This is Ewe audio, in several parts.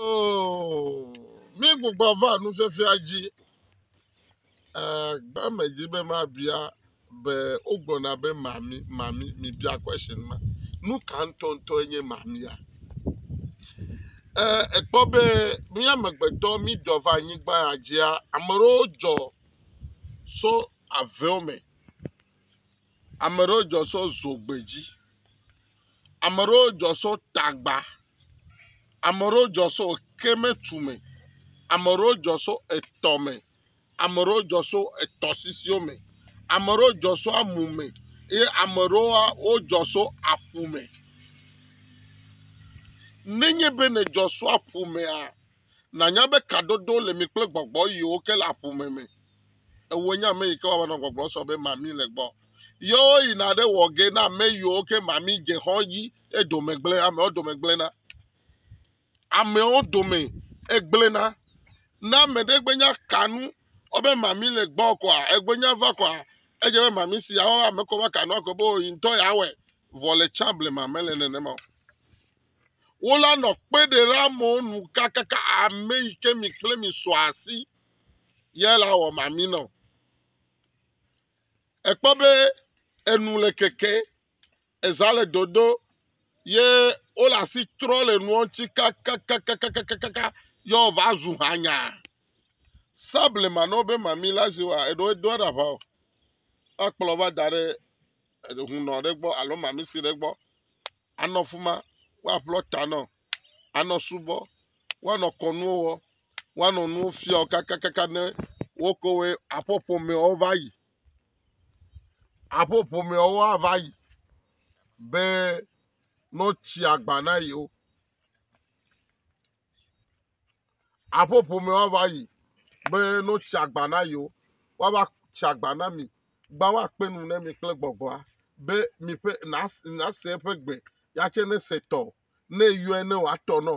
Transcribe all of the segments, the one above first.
Oh, mi gbogbo va nufiafia dzi. Eh, gbe me dzi be ma bia be wogblɔna be mami mami mi bia question ma. Nu ka ŋutɔŋutɔ enye mamia? Eh, ekpɔ be mi amegbetɔ mi dɔ va anyigba ya dzia ame ɖewo dzɔ so avewo me. Ame ɖewo dzɔ sɔ zogbedzi. Ame ɖewo dzɔ sɔ tagba. Ame ɖewo dzɔ sɔ kɛmɛtume. Ame ɖewo dzɔ sɔ etɔme. Ame ɖewo dzɔ sɔ etɔsisiwo me. Ame ɖewo dzɔ sɔ amume ye ame ɖewoa wodzɔ sɔ aƒume. Nenye be nedzɔ sɔ aƒumea. nànya be kadodo le mi kple gbɔgbɔ yiwo ke le aƒome me. Ewo nye ame yi ke wɔna nɔ gbɔgblɔ sɔ be mami le gbɔ. Yewo yina ɖe wɔ ge na ame yiwo ke mami dze xɔ dzi edome gblẽ, amewo dome gblẽna. Amewo dome egblẽna. Ne ame ɖe gbenya kanu wobe mami le gbɔ kɔa, egbenya va kɔa, edze be mami si awɔ ame kɔ va kanu akɔ be o yi ŋutɔ ya wɔe. Vɔ le tsã blema mele nenema o. wo la nɔ kpe ɖe ɖe amewo nu kakaka ame yi ke mi kple mi sɔ asi ye la wɔ mami nɔ. Ekpɔ be enu le keke, eza le dodo ye wo le asi trɔ le nua ŋuti kakakakakakakaka ye wòva zu hanya. Sablema na wo be mami la zi wa eɖo edo eɖa ʋa o. Ekplɔ va da ɖe hunɔ ɖe gbɔ alo mami si ɖe gbɔ. anɔ fi ma woaƒlɔ ta na wò, anɔ subɔ, woanɔ kɔnuwo wɔ, woanɔ nuwo fia wò kakakaka ne wo ke wɔe aƒe ƒomeawo va yi. Aƒe ƒomeawo ava yi be ne wotsi agba na yewo. aƒe ƒome woava yi be ne wotsi agba na yewo, woava tsi agba na mi. Gbã woakpe nu na mi kple gbɔgbɔa be mi ƒe nas, nase eƒe gbe yatse nese tɔ ne yɔe ne wòatɔ nɔ.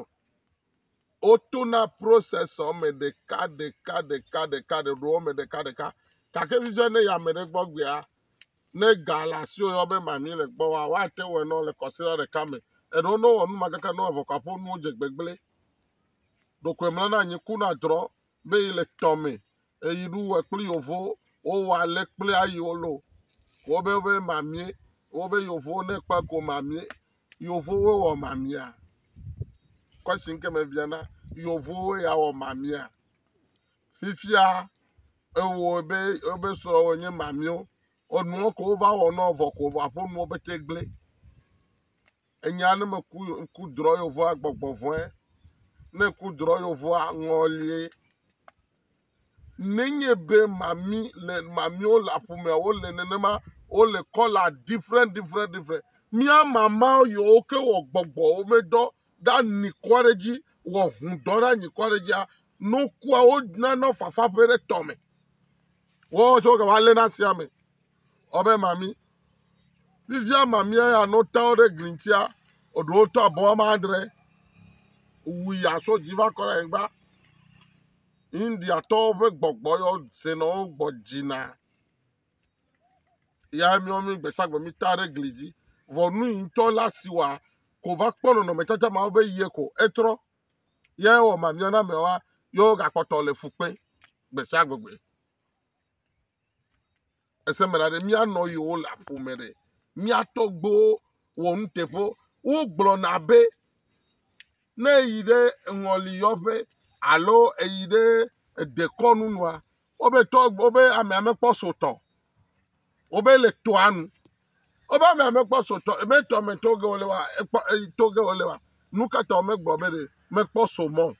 Wotona processor me ɖeka ɖeka ɖeka ɖeka ɖeka ɖeka ɖeka ɖeka gake vivia ne yi ame ɖe gbɔ gbea Ne ga le asiwò yɔ be mamee le gbɔ wa, woate wɔe nɔ le kɔsiɖa ɖeka me. Eɖewo ne wowɔ nu ma kaka ne wòavɔ kɔƒe nuwo dze gbegblẽ. Ɖokoe mlɔ na anyi kuna drɔ be yi le tɔ me eyi ɖu wɔ kple yovo wowɔ ale kple ayi wolo. Wobe be mamee wobe yovowo ne kpe ko mamee. Yovowoe wɔ mamea? Question ke me biana yovowoe ya wɔ mamea? fifia ewɔ be wobe srɔ̃wo nye mamio enuɔ ko wova wɔ nɔ vɔ ko vɔ aƒe nuwo pete gblẽ enya ne meku ŋku drɔ yovua gbɔgbɔ vɔe ne ŋku drɔ yovua ŋɔlie nenye be mami le mamio le aƒomea wole nenema wole kɔla different different different mía mamawo yewo ke wɔ gbɔgbɔwo medɔ ɖe anyi kɔ ɖe edzi wɔ ŋudɔ ɖe anyi kɔ ɖe edzia ne wokua wonana fafa ƒe ɖe tɔ me woawo tse wogava lé na sia me wɔbe mami fifia mamia ya ne wota wo ɖe gli ŋutia eɖewo tɔ abe woame adre wu ya tso dzi va kɔ ɖe anyigba indiatɔwo ƒe gbɔgbɔ yɔ senɔwo gbɔ dzina ya míawo mí gbe sia gbe míta ɖe gli dzi. Vɔ nu yi ŋutɔ la si wa ko va kpɔ nɔnɔmetata mawo be yie ko etrɔ. Ye wɔ ma mía na ameawoa, ye wogakpɔtɔ le fu kpem gbe sia gbegbe. Ese me la ɖe míanɔ yewo le aƒo me ɖe. Mía tɔgbuiwo wɔ nuteƒewo. Wogblɔna be ne eyi ɖe eŋɔliyɔƒe alo eyi ɖe edekɔnu nua, Wobe tɔ wobe amea mekpɔ sotɔ. Wobe le tɔa nu. Wobe amea mekpɔ sotɔ. Ebe tɔ me to ge wole wa ekpɔ to ge wole wa. Nu ka ta womegblɔ be ɖe mekpɔ so mɔ?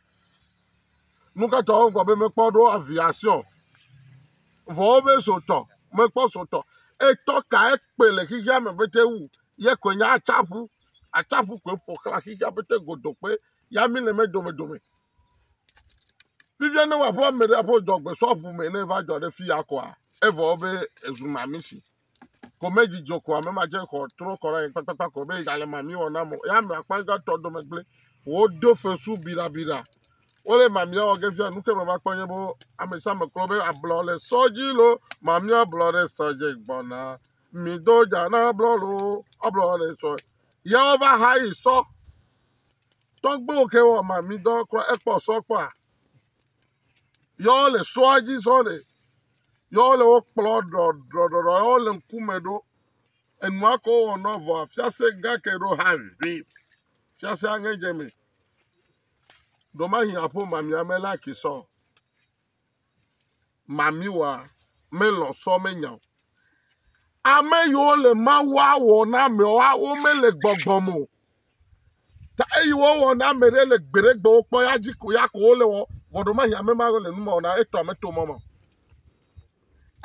Nu ka ta wogblɔ be mekpɔ ɖo aviation? Vɔ wobe sotɔ mekpɔ sotɔ. Etɔ ka ekpe le xexea me bete wu ye koe nye atsaƒu. Atsaƒu koe ƒoxla xexea bete godokpe ya mi le me domedome. Fifia ne wòaƒe ame ɖe aƒe dɔ gbesɔ ƒu me ne va dzɔ ɖe fia koa, evɔ be ezu mamisi. Ko medzi dzo ko ame ma dze xɔ trɔ kɔ ɖe kpakpakpa ko be gale mami wɔ na mo. Ya ame akpa gãtɔ dome gblẽ. Wodo fesu birabira. Wole mamia wɔ ge fia nu ke me va kpɔ nye be ame sia ame kplɔ be ablɔ le sɔ dzi lo. Mamia blɔ ɖe sɔ dzi gbɔna. Mi do dza na blɔ lo. Ablɔ le sɔ. Ya wova ha yi sɔ. Tɔgbuiwo ke wɔ ma mi dɔ kura ekpɔ sɔ kpɔa. Yɔ le sɔa dzi zɔ le. Yɔ le wo kplɔ ɖɔɖɔɖɔɖɔ yɔ le ŋkume ɖo. Enua ko wɔ nɔ vɔa fiase gake ɖo ha vi. Fiase aŋe dze me. Ɖomahi aƒo ma mi ame la ki sɔ. Mamiwoa, melɔ̃ sɔ menya o. Ame yiwo le Mawua wɔ na amewoa, womele gbɔgbɔ me o. Ta eyi wowɔ na ame ɖe le gbeɖegbewo kpɔ ya dzi ko ya ko wole wɔ vɔɖomahi ame ma le nu ma wɔ na etɔ ame to mɔ ma.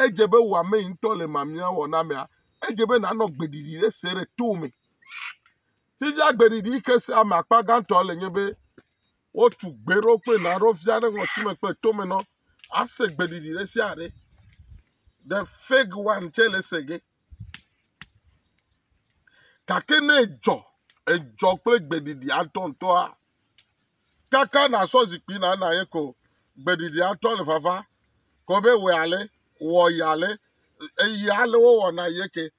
Edze be wò ame yi ŋutɔ le mamia wɔ na amea, edze be nànɔ gbeɖiɖi ɖe se ɖe to me. Fifia gbeɖiɖi yi ke se ame akpa gãtɔ le nye be Wotu gbe ɖo kple na ɖo via ɖe ŋɔtime kple tome nɔ ase gbeɖiɖi ɖe sia ɖe. The fig one tse le ese ge. Gake ne edzɔ, edzɔ kple gbeɖiɖi atɔntɔa, kaka nasɔ zikpui na na ye ko gbeɖiɖi atɔ le vava, ko be wɔ ale, wɔ ya ale, eye ale wowɔna ye ke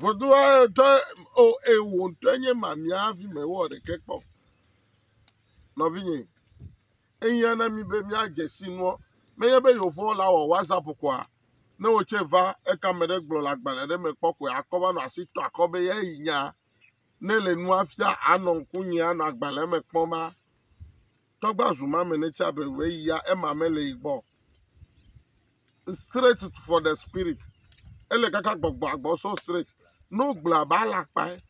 Vodua ɖe o eye wò ŋutɔ nye mamia hafi mewɔ ɖeke kpɔ. Nɔvinye, ehiã na mi be míadze si nuɔ. Menye be yewo la wɔ WhatsApp koa? Ne wò tsɛ va eka ame ɖe gblɔ le agbalẽ ɖe me kpɔ koe akɔ va nɔ asi tɔ akɔ be eyae yi nyaa. Ne le nua fia anɔ ŋkunye anɔ agbalẽa me kpɔm a. tɔgba zu ma me ne tsa be we ya ema me le igbɔ straight for the spirit ele kaka gbɔgbɔ agbɔ so straight no gblɔ ba la kpae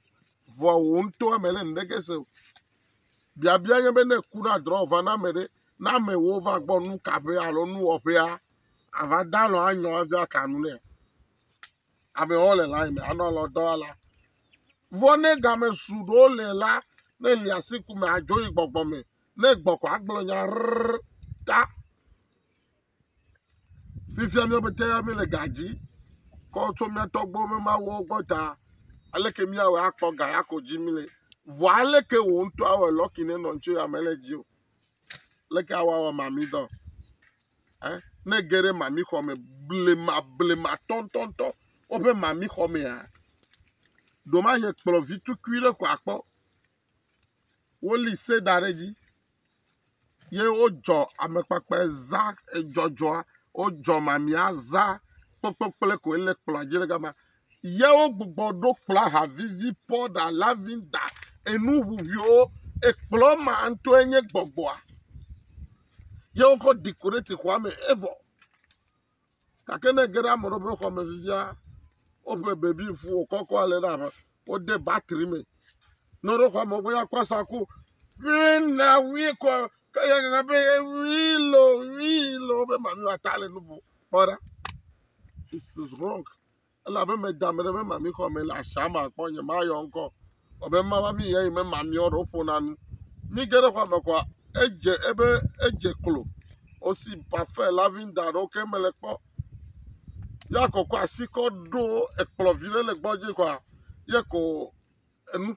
vɔ wo ŋutɔ me le ndege se biabia nye be ne ku na drɔ va na me ɖe na me wo va gbɔ nu kaƒe alo nu wɔƒea ava dalɔ anyɔ avia kanu ne amewo le layi me anɔ alɔ dɔ la. Vɔ ne game su ɖewo le la, ne li asi ku me adzo yi gbɔgbɔ me, ne gbɔkɔ agblɔ nya rrr ta. Fifia mía pete ya míele ga dzi kɔ tso mía tɔgbo me mawuwo gbɔ ta. Aleke míawɔ akpɔ ga ya ko dzi míle? Vɔ aleke wò ŋutɔ awɔ lɔki ne nɔ ŋutsu ya mele dzi o? Leke awɔ awɔ mamidɔ? eh, ne ge ɖe mamixɔ me blema blema tɔntɔntɔ woƒe mamixɔ mea ɖomaye kplɔ vi tukui ɖe ko akpɔ woli se da ɖe dzi ye wodzɔ amekpakpe za edzɔdzɔa wodzɔ mamia za kpekpekple koe le kplɔa dzi ɖe gama Yewo gbugbɔ ɖo kplɔa ha vivi, pɔɖa, lavinda, enu ʋuʋuiwo. Ekplɔ ma ŋutɔe nye gbɔgbɔa. Ye wokɔ dekorati xɔa me evɔ. Gake ne ege ɖe ame ɖewo ƒe xɔ me fifia, woƒle bebi fu wòkɔkɔ ale ɖe abe wode batri me. Ne woɖo xɔa me wogbe akɔ asa ko. Wii na wii kɔ ke ya gana be wii lo wii lo be mamiwo ata le nu ƒo. Kpɔ ɖa. It is wrong. elabe meda ame ɖe memamixɔ me le asia me akpɔ nye mayɔ ŋkɔ o be mava mi yeye memamiɔ ɖe woƒona nu mi ge ɖe xɔa me kɔa edze ebe edze klo osi pafe lavinda ɖewo ke mele kpɔ ya kɔkɔ asi kɔ ɖo ekplɔ vi ɖe le gbɔ dzi kɔa ye ko enu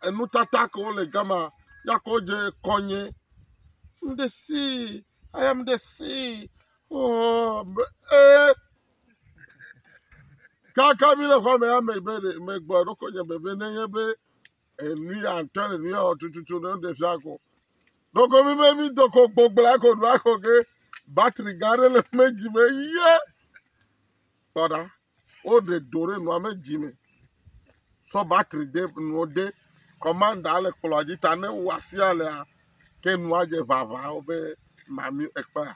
enutata ke wole gama ya ko dze kɔnye ŋɖe si ayam ɖe si oh, be, eh, kaka mi le xɔme ya megbe ɖe megbɔ ɖokɔ nye bebe ne nye be enu ya ŋutɔ le nu ya wɔ tututu ne ɖe fia ko ɖoko mi be mi doko gbogblea ko ɖo ako ke batri gã aɖe le me dzi me ye kpɔɖa woɖe do ɖe nua me dzi me sɔ batri de nuwo de kɔmanda le kplɔa dzi ta ne wo asia lea ke nua dze vava wo be mami ekpea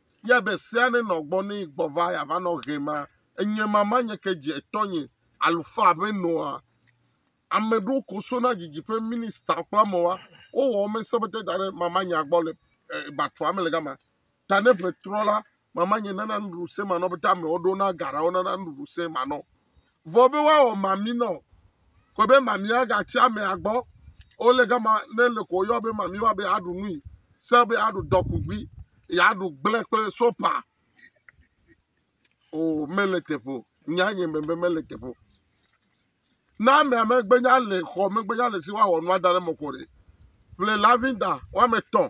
Yɛ be sea ne nɔ gbɔ nɛ gbɔ va ya va nɔ ɣe ma enyɛ ma ma nye ke dje etɔ nye alufa be nɔa ame ɖo ko so na djidji ƒe minista kpla mɔ wa wo wɔ me sɔ be te da ɖe ma ma nya gbɔ le batua me le gama ta ne ƒe trɔ la ma ma nye nana nuɖuɖu se ma nɔ be te amewo ɖo na ga ɖa wo nana nuɖuɖu se ma nɔ vɔ be woawɔ mami nɔ kɔe be mami agatsi amea gbɔ wole gama ne le ko yɔ be mami wa be aɖu nui se be aɖu dɔkugbi yeaɖu gblẽ kple sopa o mele teƒe o nya nye be mele teƒe o ne amea megbenya le xɔ megbenya le si woawɔ nua da ɖe mɔƒo ɖe ƒle lavinda woame etɔ̃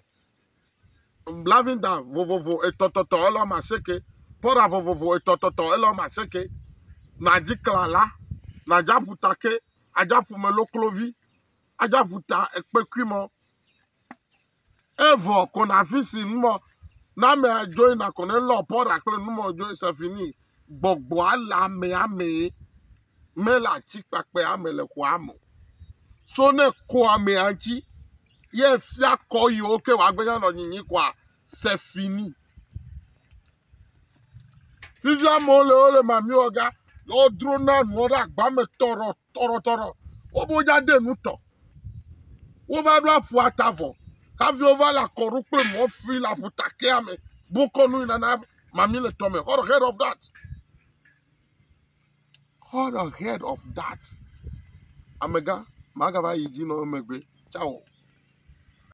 blavinda vovovo etɔtɔtɔ ele wɔme asieke, pɔɖa vovovo etɔtɔtɔ ele wɔme asieke, nadzi klala, nadzi aƒuta ke, adzi aƒume loklovi, adzi aƒuta ekpekui mɔ. Evɔ ko nafi si numɔ na ame adzoe nakɔ ne lɔ pɔɖa kple numɔ dzoe sefini gbɔgbɔ ala amea mee mele atsi kpakpɛ ame le xɔa me. So ne ko amea ŋuti. ye efia kɔ yewo ke wòagbenye nɔ nyinyi kɔa, se fi ni. Fifia amewo le wo le mamiwɔ ga, ye wodro na nuwo ɖe agba me tɔrɔ tɔrɔ tɔrɔ. Wobe wodza de nu tɔ. Wova ɖo aƒu ata vɔ. Hafi wova le akɔɖu kple mɔ fui le aƒuta kea me. Bokɔ nu yina na mami le tɔme. Heard of that? Cut the head of that, amegã, magava yi dzi na wò emegbe, tsao.